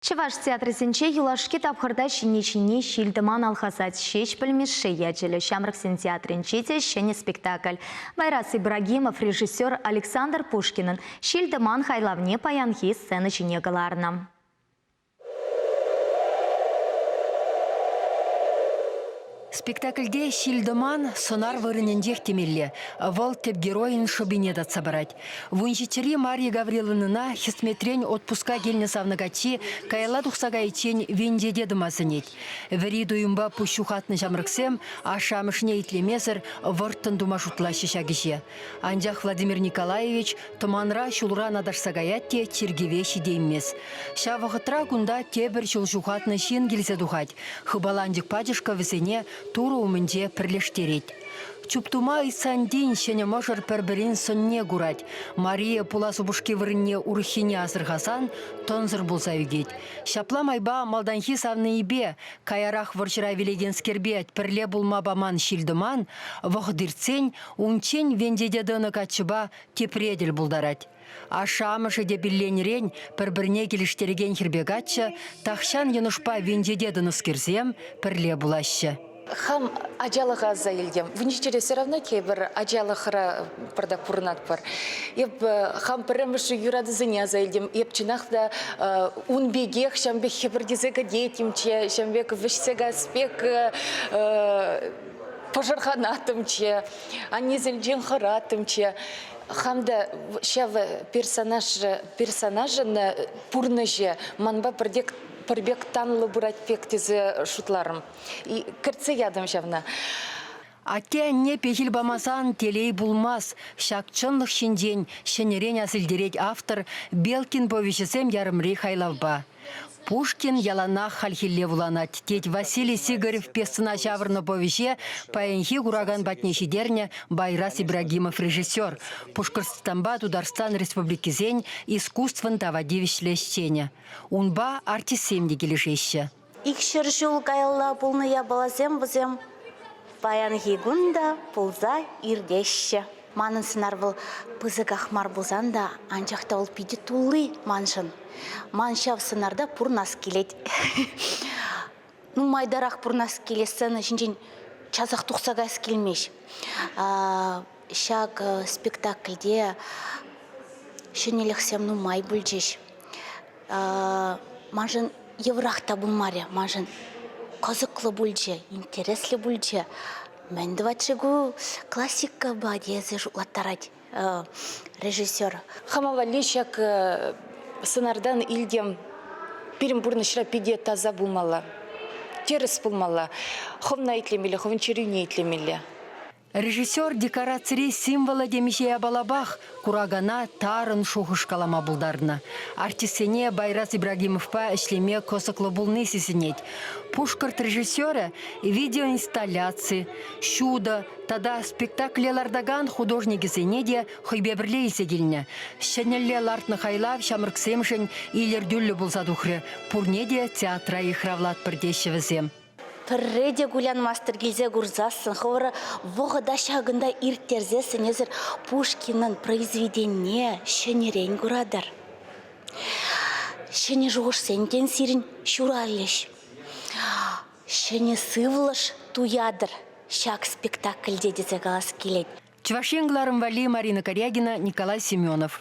Чӑваш театрӗсенче юлашки тапхӑрта ҫӗнни-ҫӗнни ҫил-тӑман алхасать Ҫеҫпӗл Мишши ячӗллӗ ҫамрӑксен театрӗнче те ҫӗнӗ спектакль. Байрас Ибрагимов режиссер Александр Пушкинӑн ҫил-тӑман хайлавне паянхи сцена ҫине кӑларнӑ. Спектакльте ҫил-тӑман сӑнар вырӑнӗнчех темелле. Вӑл тӗп геройӗн шӑпине татса парать. Вунҫиччӗри Марья Гавриловнӑна хӗсметрен отпуска килнӗ савнӑ каччи каялла тухса кайиччен венчете тӑма сӗнет. Вӗри туйӑмпа пуҫ ҫухатнӑ ҫамрӑксем ашшӗ-амӑшне итлемесӗр вӑрттӑн тума шутлаҫҫӗ ҫак ӗҫе. Анчах Владимир Николаевич тӑманра ҫулран аташса каять те чиркӗве ҫитеймест. Ҫав вӑхӑтра кунта тепӗр ҫул ҫухатнӑ ҫын килсе тухать, хыпаланчӑк пачӑшкӑ вӗсене Турӑ умӗнче пӗрлештерет. Чуптума Исантин ҫӗнӗ мӑшӑр пӗр-пӗрин сӑнне курать. Мария пулас упӑшки вырӑнне урӑххине асӑрхасан тӑнсӑр пулса ӳкет. Ҫапла майпа малтанхи савнийӗпе, каярах вӑрҫӑра вилекенскерпе пӗрле пулма паман ҫил-тӑман вӑхӑт иртсен унччен венчете тӑнӑ каччӑпа тепре тӗл пултарать. Ашшӗ-амӑшӗ те пилленӗрен пӗр-пӗрне килӗштерекен хӗрпе каччӑ, тахҫан йӑнӑшпа венчете тӑнӑскерсем, пӗрле пулаҫҫӗ. Хам ачалӑха аса илтӗм. Венечетьре все равно тепӗр ачалӑхра пӑртак пурӑнатпӑр. Эп хам пӗрремӗш юратусене аса илтӗм. Эп чӑнах та ун пекех ҫавӑн пек хӗпӗртесе кӗтетӗмччӗ, ҫавӑн пек вӗҫсе кас пек пӑшӑрханаттӑмччӗ, аннесенчен хӑраттӑмччӗ. хам та ҫавӑ персонажа персонажӑн э, пурнӑҫӗ манпа пӗр пек пӗр пек танлӑ пырать пек тесе шутларӑм кӗртсе ятӑм ҫавна Атте-анне пехил памасан телей пулмас. Ҫак чӑнлӑх ҫинчен ҫӗнӗрен асилтерет автор Белкин повеҫӗсем ярӑмри хайлавпа. Пушкин яланах хальхилле вуланать, тет Василий Сигарев пьесӑна ҫавӑрнӑ повеҫе паянхи куракан патне ҫитернӗ Байрас Ибрагимов режиссер, Пушкӑртстанпа Тутарстан Республикисен искусствӑн тава тивӗҫлӗ ӗҫченӗ. Унпа артистсем те килӗшеҫҫӗ. Икҫӗр ҫул каялла пулнӑ япаласем вӗсем паянхи кун та пулса иртеҫҫӗ. Манӑн сӑнар вӑл пысӑках мар пулсан та, анчах та вӑл питӗ тулли маншӑн. Ман ҫав сӑнарта пурӑнас килет. Нумайтарах пурӑнас килет, сцена ҫинчен часах тухса каяс килмест. Ҫак спектакльте ҫӗнӗлӗхсем нумай пулчӗҫ. маншӑн йывӑрах та пулмарӗ. Маншӑн кӑсӑклӑ пулчӗ, интереслӗ пулчӗ. Мӗн тӑвать-ши ку классикӑпа тесе шутлаттарать режиссер. Хама валли ҫак сӑнартан илтем пирӗн пурнӑҫра питӗ таса пулмалла. Тӗрӗс пулмалла. Хӑвна итлемелле, хӑвӑн чӗрӳне итлемелле. Режиссер декорацири символлӑ темиҫе япалапах куракана тарӑн шухӑш калама пултарнӑ. Артистсене Байрас Ибрагимовпа ӗҫлеме кӑсӑклӑ пулни сисӗнет. Пушкӑрт режиссерӗ видеоинсталляци, ҫутӑ тата спектакле лартакан художникӗсене те хӑйпе пӗрле илсе килнӗ. Ҫӗнӗлле лартнӑ хайлав ҫамрӑксемшӗн илӗртӳллӗ пулса тухрӗ. Пурне те театра йыхравлатпӑр теҫҫӗ вӗсем. пӗрре те кулянмастӑр килсе курсассӑн хӑвӑра вӑхӑта ҫакӑнта ирттерсессӗн эсӗр Пушкинӑн произведенине ҫӗнӗрен куратӑр. Ҫӗнӗ шухӑшсем тен сирӗн ҫуралӗҫ. Ҫӗнӗ сывлӑш туятӑр ҫак спектакльте тесе калас килет. Чӑваш Ен кӑларӑм валли Марина Корягина, Николай Семенов.